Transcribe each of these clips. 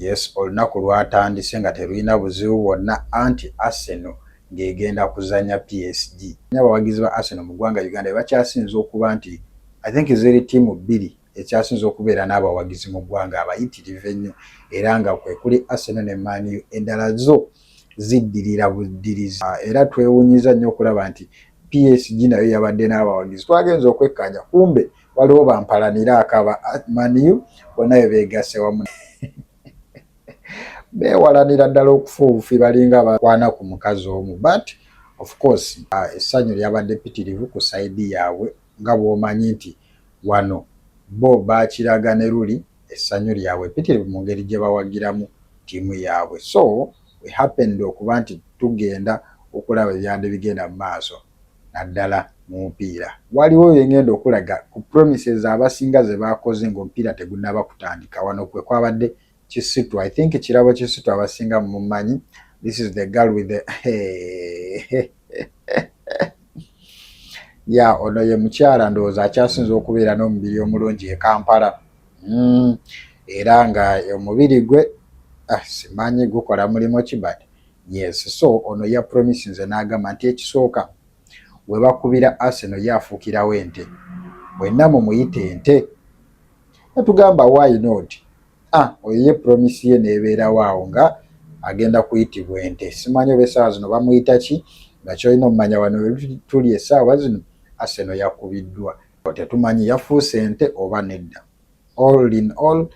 Yes, olunaku lwatandise nga terulina buzibu bwonna anti Arsenal ng'egenda kuzannya PSG. Abawagizi ba Arsenal mu ggwanga Uganda be bakyasinze okuba nti I think ziri ttiimu bbiri ekyasinze okubeera n'abawagizi mu ggwanga abayitirivu ennyo era nga kwe kuli Arsenal ne Man U endala zo ziddirira buddirizi ah, era twewunyiza nnyo okulaba nti PSG nayo yabadde n'abawagizi twagenza okwekkaanya kumbe waliwo bampalanira akaba maniu bona bebegasse wamu bewalanira ddala okufa obufi balinga bakwana ku mukazi omu but of course ah, essanyu lyabadde pitirivu ku saidi yaabwe nga bwomanyi nti wano bo bakiraga ne luli essanyu lyabwe pitirivu mu ngeri gye bawagiramu ttiimu yaabwe so we happened okuba nti tugenda okulaba ebyandi bigenda mu maaso naddala mu mupiira. Waliwo bye ng'enda okulaga ku promises abasinga ze baakoze ng'omupiira tegunnaba kutandika. Wano kwe kwabadde Kisitu. I think Kirabo Kisitu abasinga mumumanyi. This is the girl with the ya ono ye mukyala ndowooza akyasinza okubeera n'omubiri omulungi e Kampala mm, era nga omubiri gwe ah, simanyi gukola mulimu ki but Yes, so ono ya promise nze n'agamba nti ekisooka we bakubira Arsenal ye afuukirawo ente mwenna mumuyita ente natugamba why not ah oyo ye promise ye neebeerawo awo nga agenda kuyitibwa ente simanyi oba essaawa zino bamuyita ki nga kyolina omumanya wano tuli essaawa zino Arsenal yakubiddwa tetumanyi yafuuse ente oba nedda All in all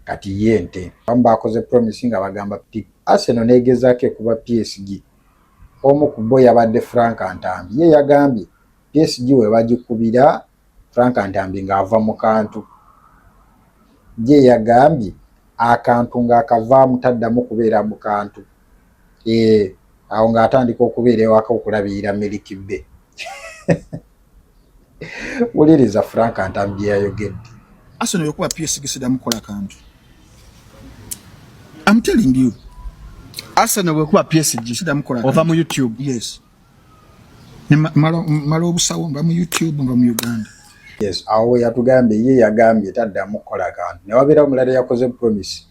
kati ye nte abamu bakoze promise nga bagamba pip Arsenal negezaako ekuba PSG omu ku bo yabadde Frank Ntambi ye yagambye PSG we bagikubira Frank Ntambi ng'ava mu kantu ye yagambye akantu ng'akavaamu taddamu kubeera mu kantu ee eh, awo ng'atandika okubeera ewaka okulabirira miliki bbe wuliriza frank ntamu bye yayogedde asona yokuba psgisidamu kukola kantu am telling you asana bwekuba psg sidamu kukola ova mu youtube yes mala obusawo nga mu youtube nga mu uganda yes awo yatugambye ye yagambye taddamu kukola kantu newabeera omulala yakoze promise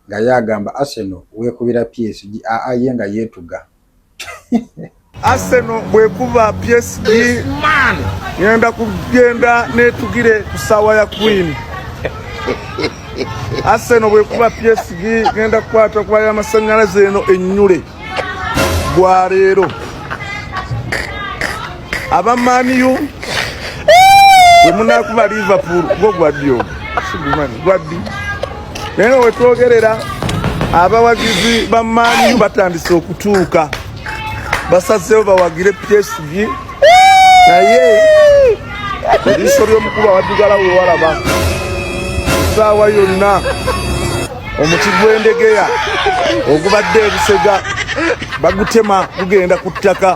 nga ye agamba arsenal wekubira psg aa ye nga yetuga Arsenal bwekuba PSG ngenda kugenda netugire ku sawa ya Queen. Arsenal bwekuba PSG ngenda kukwata kuba ya masanyalaze eno enyule bwa leero aba Man U bwemunakuba Liverpool gwo gwaddi ogwo sigumani gwaddi naye nga wetwogerera abawagizi ba maaniyu batandise okutuuka basazeewo bawagire psg naye ebiso by'omukulu awaddugala wewalaba esaawa yonna omuti gw'endegeya ogubadde ebusega bagutema gugenda ku ttaka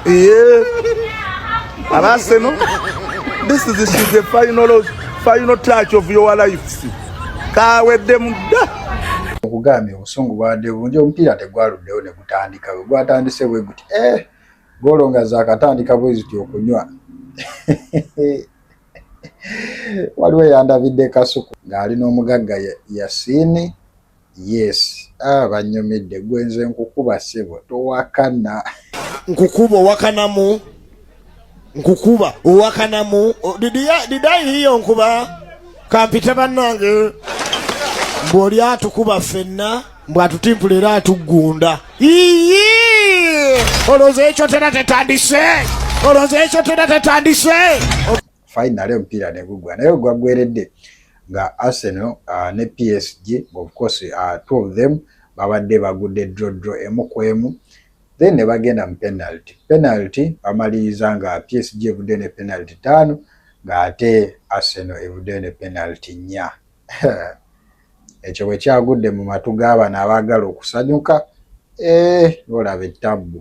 Yeah. And I say, no, this is, this is the final, final touch of your life. Kawedde mudda. Okugambye obusungu bwadde bungi omupiira tegwaluddewo ne gutandika bwe gwatandise bwe guti eh, goolo nga zaakatandika bwe ziti okunywa waliwo eyandabidde kasuku ng'ali n'omugagga Yasini Yes ah banyumidde gwe nze nkukuba sebo towakana nkukuba owakanamu nkukuba owakanamu oh, didayiyo nkuba kampita bannange mbu oli atukuba ffenna mbu atutimpula era atuggunda iyi olowooza ekyo tera tetandise olowooza ekyo tera tetandise finally omupiira ne gugwa naye ogwaggweredde nga Arsenal uh, ne PSG of course uh, two of them babadde bagudde draw draw emu ku emu then ne bagenda mu penalty penalty bamaliriza nga PSG evudde ne penalty taano ng'ate Arsenal evudde ne penalty nnya ekyo bwe kyagudde mu matu g'abano abaagala okusanyuka ee eh, olaba ettabbu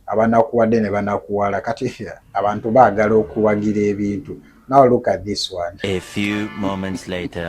abanakuwadde ne banakuwala kati abantu baagala okuwagira ebintu now look at this one a few moments later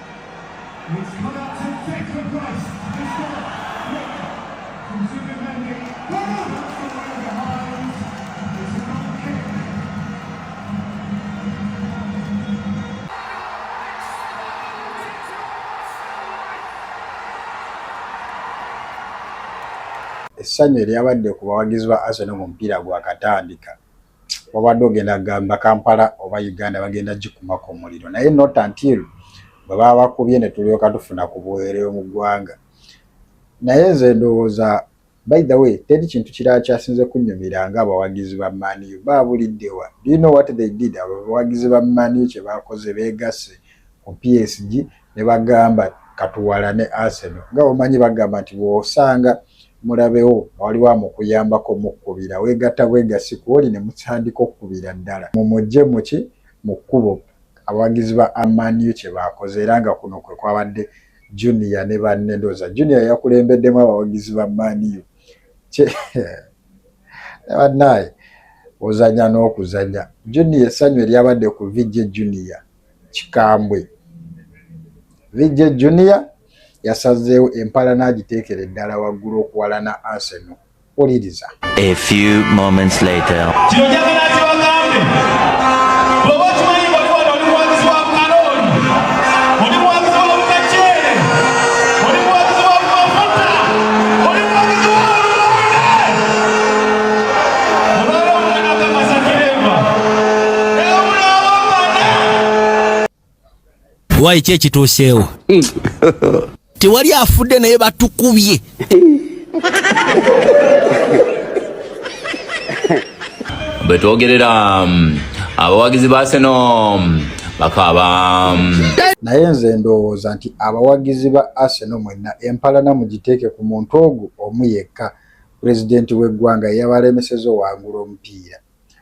essanyu eryabadde ku bawagizi ba Arsenal mu mupiira gwakatandika wabadde ogenda gamba kampala oba uganda bagenda gikumako omuliro naye not until bwe babakubye ne tulyoka tufuna ku buweerero mu ggwanga naye nze ndowooza by the way teri kintu kirala kyasinze kunnyumira nga abawagizi ba maniyu baabuliddewa do you know what they did abo abawagizi ba maniyu kye baakoze beegasse ku psg ne bagamba katuwalane Arsenal nga bwomanyi bagamba nti bwosanga mulabewo nga waliwo amukuyambako mukubira wegatta bwegasi kwoli ne mutandika okukubira ddala mumujje muki mu kkubo abawagizi ba Man U kye baakoze era nga kuno kwe kwabadde Junior ne banne ndowooza Junior yakulembeddemu abawagizi ba Man U kye bannaye ozanya n'okuzanya Junior essanyu eryabadde ku VJ Junior kikambwe. VJ Junior yasazeewo empalana agiteekere ddala waggulu okuwalana Arsenal. Wuliriza. A few moments later. wayi ki ekituuseewo tewali afudde naye batukubye bwetwogerera mm, abawagizi ba seno mm, bakaba mm. naye nze ndowooza nti abawagizi ba arsenal mwenna empalana mugiteeke ku muntu ogwo omu yekka Pulezidenti w'eggwanga ye yabalemeseza owangula omupiira.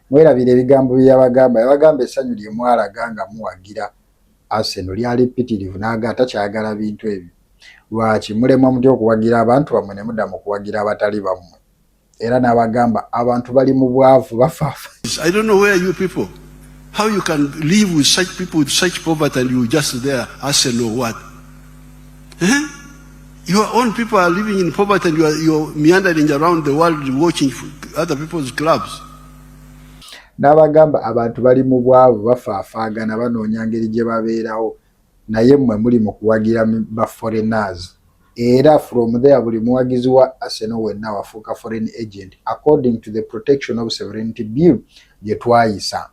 Mwerabire ebigambo bye yabagamba. Yabagamba essanyu lye mwalaga nga muwagira Arsenal lyali ppitirivu n'aga takyayagala bintu ebyo. Lwaki mulemwa mutya okuwagira abantu bammwe ne mudda mu kuwagira abatali bammwe? Era n'abagamba abantu bali mu bwavu bafaafa. I don't know where you people how you can live with such people with such poverty and you just there Arsenal what? Eh? Your own people are living in poverty and you are, you are meandering around the world watching other people's clubs. N'abagamba abantu bali mu bwavu bafaafaagana banoonya ngeri gye babeerawo naye mmwe muli mu kuwagira ba foreigners era from there buli muwagizi wa Arsenal wenna wafuuka foreign agent according to the protection of sovereignty bill gye twayisa.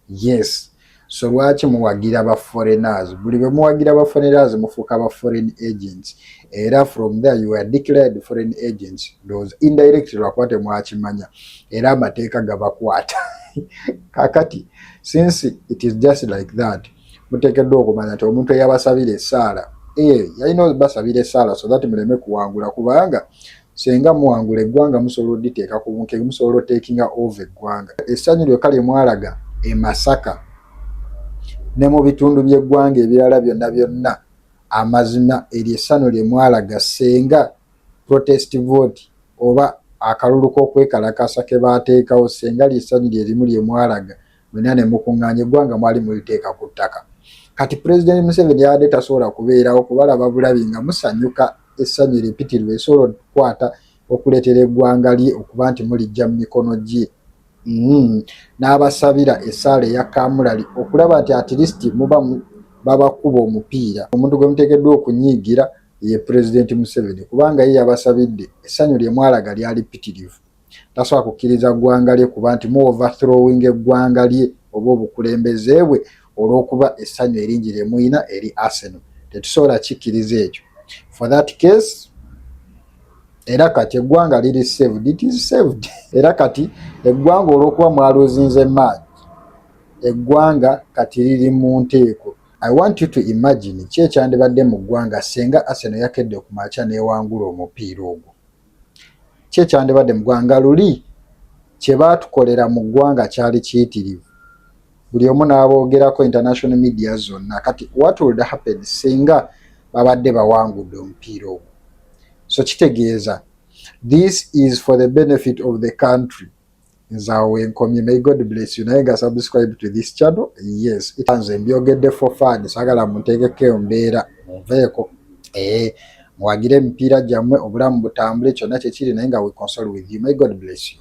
Yes. So lwaki muwagira ba foreigners? Buli bwe muwagira ba foreigners mufuuka ba foreign agents. Era from there you are declared foreign agents. Those indirect lwakuba temwakimanya. Era amateeka gabakwata. Kakati, since it is just like that, mutekeddwa okumanya nti omuntu eyabasabira esaala, eh, yalina basabira esaala so that muleme kuwangula kubanga Senga muwangula eggwanga musobola oditeeka ku bunkege musobola otekinga ova eggwanga. Essanyu lyokka lye mwalaga e Masaka ne mu bitundu by'eggwanga ebirala byonna byonna amazima eryo essano lye mwalaga senga protest vote oba akalulu k'okwekalakaasa ke baateekawo senga ly'essanyu lye limu lye mwalaga. mwena ne mukunganya eggwanga mwali muliteeka ku ttaka kati pulezidenti museveni yabadde tasobola kubeerawo kubalaba bulabi nga musanyuka essanyu eripitirwa esobola okukwata okuleetera eggwanga lye okuba nti mulijja mu mikono gye mm-hmm. n'abasabira essaala eya kamulali okulaba nti atilisiti muba babakuba omupiira omuntu gwe muteekeddwa okunyiigira ye pulezidenti museveni kubanga ye yabasabidde essanyu lye mwalaga lyali pitirivu tasobola kukkiriza ggwanga lye kuba nti mu overthrowing eggwanga lye oba obukulembeze bwe olw'okuba essanyu eringi lye muyina eri arsenal tetusobola kikkiriza ekyo for that case era kati eggwanga liri saved it is saved era kati eggwanga olw'okuba mwaluzinze maagi eggwanga kati liri mu nteeko i want you to imagine ki ekyandibadde mu ggwanga singa arsenal yakedde okumakya newangula omupiira ogwo Ki ekyandibadde mu ggwanga? Nga luli kye baatukolera mu ggwanga kyali kiyitirivu, buli omu n'aboogerako, international media zonna. Kati what would happen singa babadde bawangudde omupiira ogwo? So kitegeeza this is for the benefit of the country. nze awo wenkomye may god bless you naye nga subscribe to this channel yes nze mbyogedde for fun sagala muntegeko eyo mbeera munveeko ee eh, muwagire emipiira gyammwe obulamu butambule kyonna kyekiri naye nga we console with you may god bless you